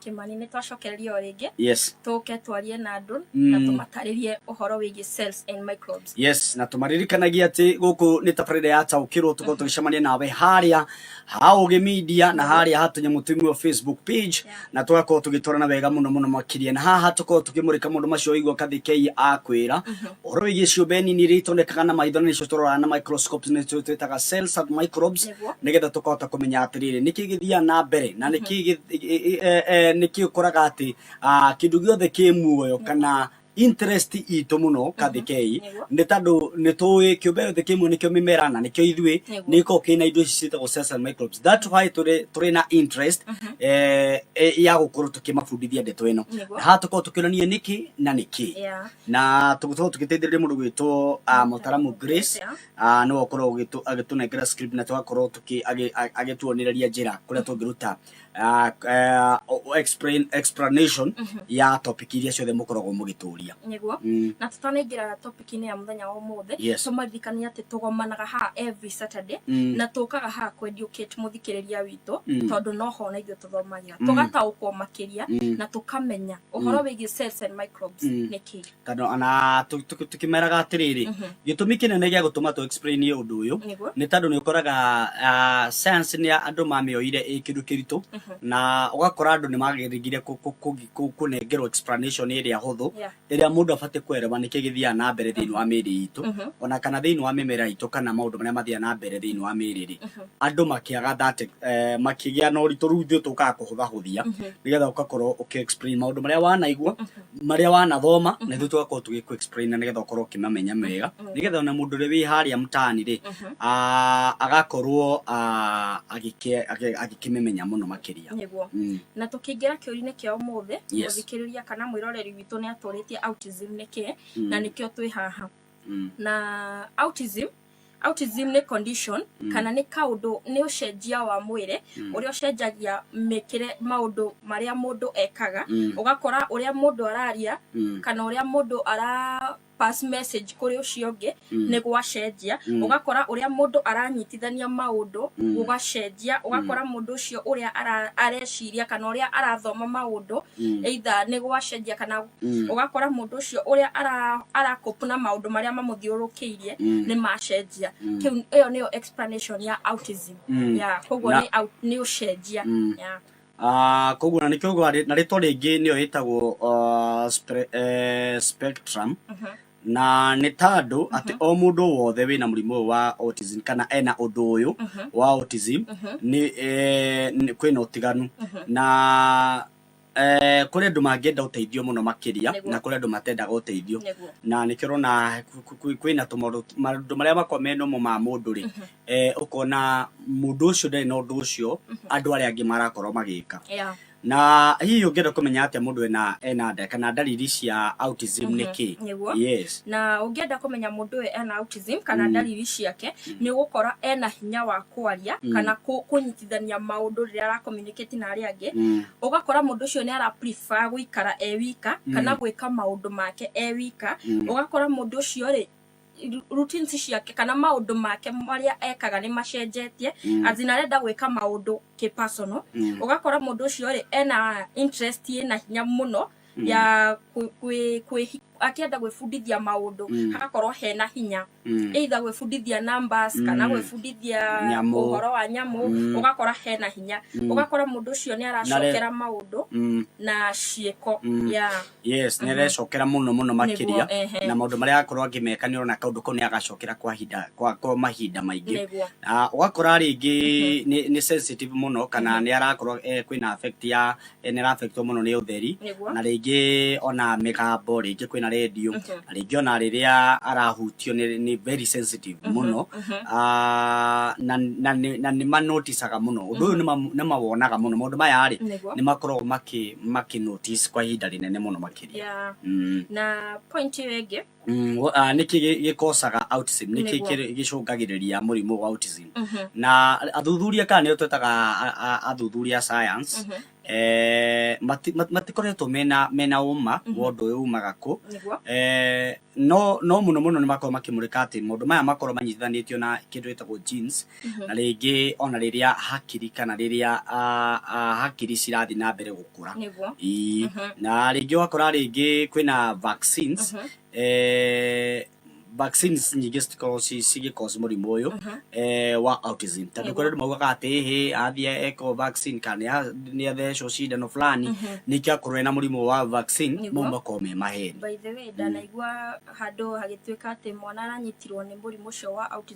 Kimani nĩ twacokereria o rĩngĩ yes tũke twarie na andũ Mm. na tũmatarĩrie ũhoro wĩgiĩ cells and microbes yes na tũmaririkanagia atĩ gũkũ nĩ tabarĩra ya taũkĩrwo tũkorwo tũgĩcemania nawe harĩa ha ũgĩ media na harĩa ha tũnyamũ tũimwe facebook page Yeah. na tũgakorwo tũgĩtwarana wega mũno mũno makĩria na haha tũkorwo tũkĩmũrĩka mũndũ macio waigua kathikei akwĩra Horo iria ciũmbe nini iria itonekaga na maitho na nĩcio tũroraga na microscopes nĩcio twĩtaga cells and microbes Nĩguo. nĩgetha tũkahota kũmenya atĩrĩrĩ nĩkĩ gĩthiaga na mbere na nĩkĩ gĩ- e- e- e- nĩkĩ ũkoraga atĩ ah, kĩndũ gĩothe kĩ muoyo kana interest itũ mũno kathikei Nĩguo. nĩ tondũ nĩ tũĩ kĩũmbe gĩothe kĩ muoyo nĩkĩo mĩmera na nĩkĩo ithuĩ Nĩguo. nĩ gĩkoragwo kĩna indo ici ciĩtagwo cells and microbes that why tũrĩ tũrĩ na interest eh, eh, ya gũkorwo tũkĩmabundithia ndeto ĩno Nĩguo. na haha tũkorwo tũkĩonania nĩkĩ na nĩkĩ Yeah. na tũgũkorwo tũgĩteithĩrĩria mũndũ gwĩtwo ah, mũtaramu grace ah, nĩwe ũkorwo ũgĩtũ- agĩtũnengera script na tũgakorwo tũkĩ- agĩ- a- agĩtuonereria njĩra kũrĩa tũngĩruta ah, eh, o- o- explain- explanation ya topic iria ciothe mũkoragwo mũgĩtũria nĩguo Mm. na tũtanaingĩra topic-inĩ ya mũthenya wa ũmũthĩ Yes. tũmaririkania atĩ tũgomanaga haha every saturday Mm. na tũkaga haha kwendiũkĩte mũthikĩrĩria witũ Mm. tondũ no ho na ithuĩ tũthomagĩra tũkamenya Mm. tũgataũkwo makĩria Mm. na tũkamenya ũhoro wĩgiĩ cells and microbes Mm. nĩ kĩĩ kana ona tũ- tũ- tũkĩmeraga atĩrĩrĩ Mhm. gĩtũmi kĩnene gĩa gũtũma tũ explain ũndũ ũyũ nĩguo nĩ tondũ nĩ ũkoraga ah, science nĩ andũ mamĩoire ĩ kĩndũ kĩritũ Mhm. na ũgakora andũ nĩ magĩrĩgire kũ- kũ- kũ- kũ- kũnengerwo explanation ĩrĩa hũthũ Yeah. ĩrĩa mũndũ abatiĩ kwereba nĩkĩ gĩthiaga na mbere thĩinĩ wa mĩĩrĩ itũ ona kana thĩinĩ wa mĩmera itũ kana maũndũ marĩa mathiaga na mbere thĩinĩ wa mĩĩrĩ rĩ andũ makĩaga that eh, makĩgĩa na ũritũ rĩu ithuĩ tũkaga kũhũthahũthia nĩgetha ũgakorwo ũkĩ explain maũndũ marĩa wanaigua marĩa wanathoma na ithuĩ tũgakorwo tũgĩkũ explain na nĩgetha ũkorwo ũkĩmamenya mega nĩgetha ona mũndũ ũrĩa wĩ harĩa mtaani rĩ Mhm. ah, agakorwo ah, agĩke- agĩ- agĩkĩmĩmenya mũno makĩria nĩguo Mm. na tũkĩingĩra kĩũri-inĩ kĩa ũmũthĩ Yes. mũthikĩrĩria kana mwĩroreri witũ nĩ atũrĩtie autism nĩ kĩ Mm. na nĩkĩo twĩ haha Mm. na autism autism nĩ condition Mm. kana nĩ kaũndũ nĩ ũcenjia wa mwĩrĩ Mm. ũrĩa ũcenjagia mĩkĩre maũndũ marĩa mũndũ ekaga Mm. ũgakora ũrĩa mũndũ araria Mm. kana ũrĩa mũndũ ara pass message kũrĩ ũcio ũngĩ nĩ gwacenjia ũgakora ũrĩa mũndũ aranyitithania maũndũ gũgacenjia ũgakora mũndũ ũcio ũrĩa ara- areciria kana ũrĩa arathoma maũndũ either nĩ gwacenjia kana ũgakora mũndũ ũcio ũrĩa ara- arakopu na maũndũ marĩa mamũthiũrũkĩirie nĩ macenjia Kĩu- ĩyo nĩyo explanation ya autism Yeah, koguo nĩ au- nĩ ũcenjia Yeah. Ah, koguo na nĩkĩo ũguo na rĩtwa rĩngĩ nĩyo ĩtagwo ah, spre- eh, spectrum na nĩ ta andũ atĩ o mũndũ wothe wĩna mũrimũ ũyũ wa autism kana ena ũndũ ũyũ wa autism nĩ eh, nĩ- kwĩna ũtiganu na eh, kũrĩ andũ mangĩenda ũteithio mũno makĩria Nĩguo. na kũrĩ andũ matendaga ũteithio Nĩguo. na nĩkĩo ũrona ku- ku- ku- kwĩna tũmaũndũ maũndũ marĩa makoragwo me normal ma mũndũ rĩ eh, ũkona mũndũ ũcio ndarĩ na ũndũ ũcio andũ arĩa angĩ marakorwo magĩka Yeah. na hihi ũngĩenda kũmenya atĩa mũndũ ena ena nda kana ndariri cia autism nĩ kĩ Nĩguo. yes na ũngĩenda kũmenya mũndũ ũyũ ena autism kana Mm. ndariri ciake nĩ ũgũkora ena hinya wa kwaria Mm. kana kũ- kũnyitithania maũndũ rĩrĩa arakomunicate na arĩa angĩ Mm, ũgakora mũndũ ũcio nĩ ara prefer gũikara e wika kana gwĩka maũndũ make e wika Mm. ũgakora mũndũ ũcio rĩ routines ciake kana maũndũ make marĩa ekaga nĩ macenjetie mm. azin arenda gwĩka maũndũ kĩ personal mm. ũgakora mũndũ ũcio rĩ ena interest ĩna hinya mũno mm. ya akĩenda gwĩbundithia maũndũ mm. hagakorwo hena hinya mm. either gwĩbundithia numbers mm. kana gwĩbundithia ũhoro wa nyamũ mm. ũgakora hena hinya mm. ũgakora mũndũ ũcio nĩ aracokera maũndũ mm. na ciĩko mm. yeah. yes nä arecokera må no må no makä Nĩguo, ria ehe. na maå ndå marä a akorwo angä meka nä orona kaå ndå kau nä agacokera kwa hinda- kwa- kwa mahinda maingä Nĩguo. Ah, ũgakora rĩngĩ nĩ- nĩ sensitive mũno kana nĩ arakorwo eh, kwĩna affect ya eh, nĩ araffectwo mũno nĩ ũtheri Nĩguo. na rĩngĩ ona mĩgambo rĩngĩ kwĩna redio Mhm. na rĩngĩ ona rĩrĩa arahutio nĩ nĩ very sensitive mũno Ah, na na nĩ- na nĩ manoticaga mũno ũndũ ũyũ nĩ ma- nĩ mawonaga mũno maũndũ maya rĩ Nĩguo. nĩ makoragwo makĩ makĩ notice kwa ihinda rĩnene mũno makĩria yeah. mm. na point ĩyo ĩngĩ mm, uh, ah, nĩkĩ gĩkocaga autism nĩkĩ gĩcũngagĩrĩria mũrimũ wa autism mm -hmm. na athuthuria kana nĩo twetaga athuthuria science mm -hmm. Eh, matikoretwo mena mena uma mhm. wa ũndũ ũyũ umaga kũ eh, no no muno muno ni makorwo makimurika ati maundu maya makorwo manyitithanitio na kindu gitagwo genes Mhm. na rĩngĩ ona rĩrĩa hakiri kana rĩrĩa ah, ah, hakiri cirathiĩ na mbere gũkũra nĩguo Ii. Mhm. na rĩngĩ ũgakora rĩngĩ kwĩna vaccines Mhm. eh, vaccines nyingĩ citikoragwo ci- cigĩcause mũrimũ ũyũ Mhm. eh, wa autism tondũ Nĩguo. kũrĩ andũ maugaga atĩ hĩ athiĩ ekwo vaccine kana nĩa- nĩathecwo cindano fulani Mhm. nĩkĩo akorwo ena mũrimũ wa vaccine Nĩguo. mau makorwo me maheni by the way ndanaigua handũ hagĩtuĩka atĩ mwana aranyitirwo nĩ mũrimũ ũcio wa autism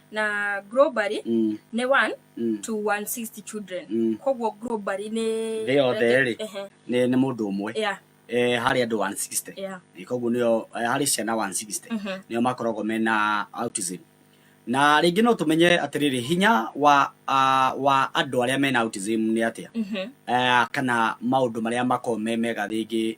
na globally Mm. nĩ 1 Mm. to 160 children Mm. koguo globally nĩ Thĩ yothe rĩ? Ehe, nĩ nĩ mũndũ ũmwe yeah, eh, harĩ andũ 160 yeah. Eh, koguo nĩo eh, harĩ ciana 160 Mhm. nĩo makoragwo mena autism na rĩngĩ no tũmenye atĩrĩrĩ hinya wa ah, wa andũ arĩa mena autism nĩ atĩa Mhm. Eh, kana maũndũ marĩa makoragwo me mega rĩngĩ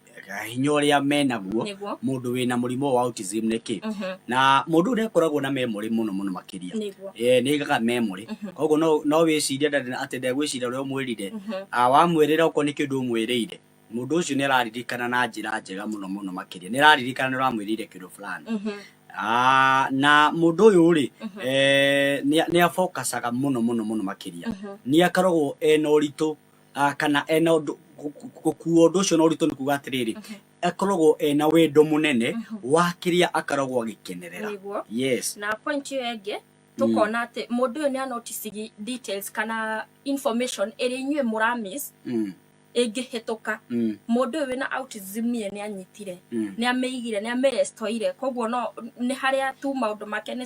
hinya ũrĩa menaguo Nĩguo. mũndũ wĩna mũrimũ wa autism nĩ kĩ Mhm. na mũndũ ũrĩa akoragwo na memory mũno mũno makĩria Nĩguo. Eh, nĩ gaga memory koguo no- no wĩciria ndarĩ na- atĩ ndegwĩciria ũrĩa ũmwĩrire Ah, wamwĩrĩra okorwo nĩ kĩndũ ũmwĩrĩire mũndũ ũcio nĩ araririkana na njĩra njega mũno mũno makĩria nĩ araririkana nĩ ũramwĩrĩire kĩndũ fulani Mhm. Ah, na mũndũ ũyũ rĩ eh, nĩ nĩ abokacaga mũno mũno mũno makĩria nĩ akoragwo ena ũritũ ah, kana ena ũndũ gu- gu- gũkuua ũndũ ũcio na ũritũ nĩ kuga atĩrĩrĩ Okay. akoragwo ena wendo mũnene Mhm. wa kĩrĩa akaragwo agĩkenerera Nĩguo. yes na point ĩyo ĩngĩ tũkona atĩ mũndũ ũyũ nĩ anoticigi details kana information ĩrĩa inyuĩ mũramiss mm, ĩngĩhĩtũka mm, mũndũ ũyũ wĩna autism ye nĩ anyitire mm. nä amä igire nä amä restoire koguo no nä harä a tu maå ndå make nä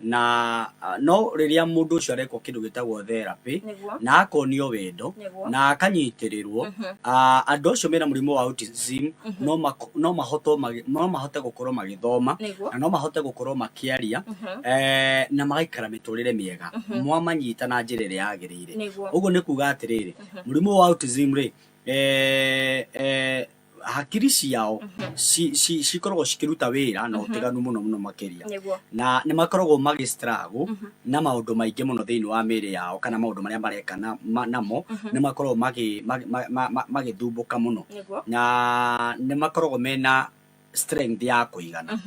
na ah, no rĩrĩa mũndũ ũcio arekwo kĩndũ gĩtagwo therapĩ Nĩguo. na akonio wendo Nĩguo. na akanyitĩrĩrwo ah, andũ acio mena mũrimũ wa autism no mako- no mahotwo magĩ- no mahote gũkorwo magĩthoma Nĩguo. na no mahote gũkorwo makĩaria eh, na magaikara mĩtũrĩre mĩega mwamanyita na njĩra ĩrĩa yagĩrĩire Nĩguo. ũguo nĩ kuga atĩrĩrĩ mũrimũ wa autism rĩ eh, eh, hakiri ciao mhm. cikoragwo cikiruta wira na utiganu mhm. muno muno makiria na ni makoragwo magi struggle mhm. na maundu maingi muno thiini wa miri yao kana maundu maria mareka namo ni makoragwo magi magi thumbuka muno na ni makoragwo mena strength ya kuigana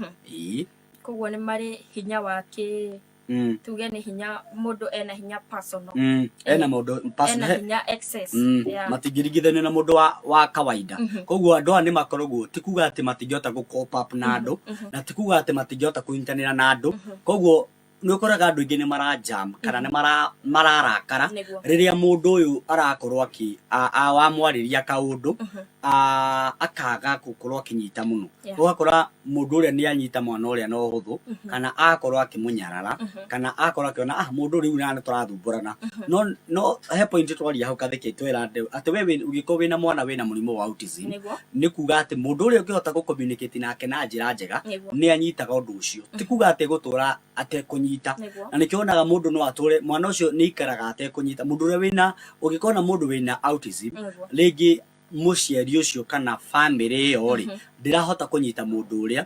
koguo ni mari hinya wa ki mm. tuge nĩ hinya mũndũ ena hinya personal mm. ena mũndũ ena personal hinya excess Mm, yeah. matingĩringithanio na mũndũ wa, wa kawaida Mhm. koguo andũ aya nĩ makoragwo ti kuga atĩ matingĩhota gũ cope up na andũ mhm. na ti kuga atĩ matingĩhota kũnyitanĩra na andũ Mhm. koguo nĩ ũkoraga andũ aingĩ nĩ marajam kana nĩ mara- mararakara Nĩguo. rĩrĩa mũndũ ũyũ arakorwo akĩ- a- a- wamwarĩria kaũndũ Mhm. a- akaga gũkorwo akĩnyita mũno Yeah. ũgakora mũndũ ũrĩa nĩ anyita mwana ũrĩa na ũhũthũ kana akorwo akĩmũnyarara kana akorwo akĩona ah mũndũ rĩu nana tũrathumbũrana no no he point twaria hau katheke twera andũ atĩ we wĩ- ũngĩkorwo wĩna mwana wĩna mũrimũ wa autism Nĩguo. nĩ kuga atĩ mũndũ ũrĩa ũngĩhota gũ communicate nake na njĩra njega Nĩguo. nĩ anyitaga ũndũ ũcio ti kuga atĩ gũtũra atekũnyita Nĩguo. na nĩkĩo wonaga mũndũ no atũre mwana ũcio nĩ ikaraga atekũnyita mũndũ ũrĩa wĩna ũngĩkona mũndũ wĩna autism Nĩguo. rĩngĩ mũciari ũcio kana bamĩrĩ ĩyo rĩ ndĩrahota kũnyita mũndũ ũrĩa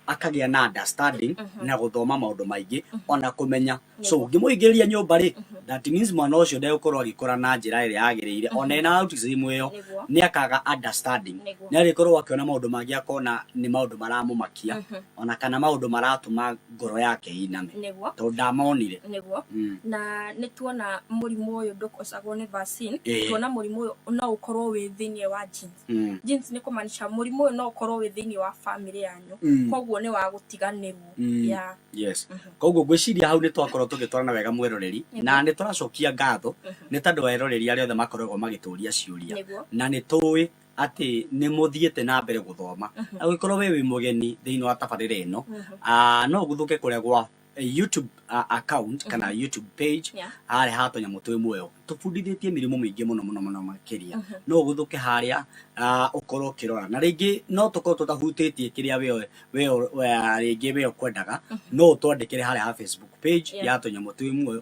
akagĩa na understanding na gũthoma maũndũ maingĩ ona kũmenya so ngĩmũingĩria nyũmba rĩ that means mwana ũcio ndegũkorwo agĩkũra na njĩra ĩrĩa yagĩrĩire ona ena autism ĩyo Nĩguo. nĩ akaga understanding Nĩguo. nĩ arĩkorwo akĩona maũndũ mangĩ akona nĩ maũndũ maramũmakia ona kana maũndũ maratũma ngoro yake ĩiname nĩguo tondũ ndamonire nĩguo Mm. na nĩ tuona mũrimũ ũyũ ndũkocagwo nĩ vaccine Ĩĩ. tuona mũrimũ ũyũ no ũkorwo wĩ thĩinĩ wa genes Mm. genes nĩ kũmaanisha mũrimũ ũyũ no ũkorwo wĩ thĩinĩ wa family yanyu Mm. koguo nĩ wa gũtiganĩrwo Mm. ya yes koguo ngwĩciria hau nĩ twakorwo tũgĩtwarana wega mweroreri Nĩguo. na nĩ tũracokia ngatho nĩ tondũ wa eroreri arĩa othe makoragwo magĩtũria ciũria nĩguo na nĩ tũĩ atĩ nĩ mũthiĩte na mbere gũthoma na gũgĩkorwo we wĩ mũgeni thĩinĩ wa tabarĩra ĩno ah, no ũguthũke kũrĩa gwa eh, youtube ah, account kana youtube page Yeah. harĩa ha tũnyamũ twĩ muoyo tũbundithĩtie mĩrimũ mĩingĩ mũno mũno mũno makĩria no ũguthũke harĩa ah, ũkorwo ũkĩrora na rĩngĩ no tũkorwo tũtahutĩtie kĩrĩa we we we- rĩngĩ we ũkwendaga no ũtwandĩkĩre harĩa ha facebook page Yeah. ya tũnyamũ twĩ muoyo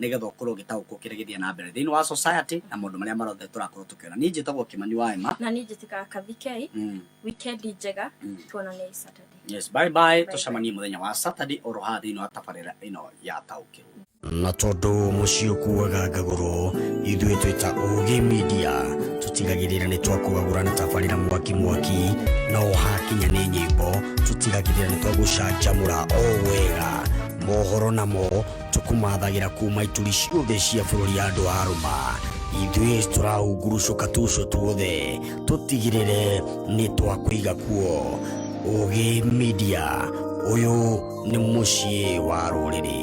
nĩgetha ũkorwo ũgĩtaũkwo kĩrĩa gĩthiĩ na mbere thĩinĩ wa society na maũndũ marĩa marothe tũrakorwo tũkĩona niĩ njĩtagwo kĩmani wa ema na niĩ njĩtĩkaga kathikei mm. wikendi njega Mm. tuonane hii saturday yes bye bye Bye tũcemanie mũthenya wa saturday oro haha thĩinĩ wa tabarĩra ĩno ya taũkĩrwo na tondũ mũciĩ ũkuaga ngagũrũ ithuĩ twĩ ta ũgĩ media tũtigagĩrĩra nĩ twakũgagũra na tabarĩra mwaki mwaki na ũhakinya nĩ nyĩmbo tũtigagĩrĩra nĩ twagũcanjamũra o wega mohoro namo tũkũmathagĩra kuuma ituri ciothe cia bũrũri ya andũ a rũma ithuĩ tũrahungurucũka tuco tuothe tũtigĩrĩre nĩ twakũiga kuo ũgĩ media ũyũ nĩ mũciĩ wa rũrĩrĩ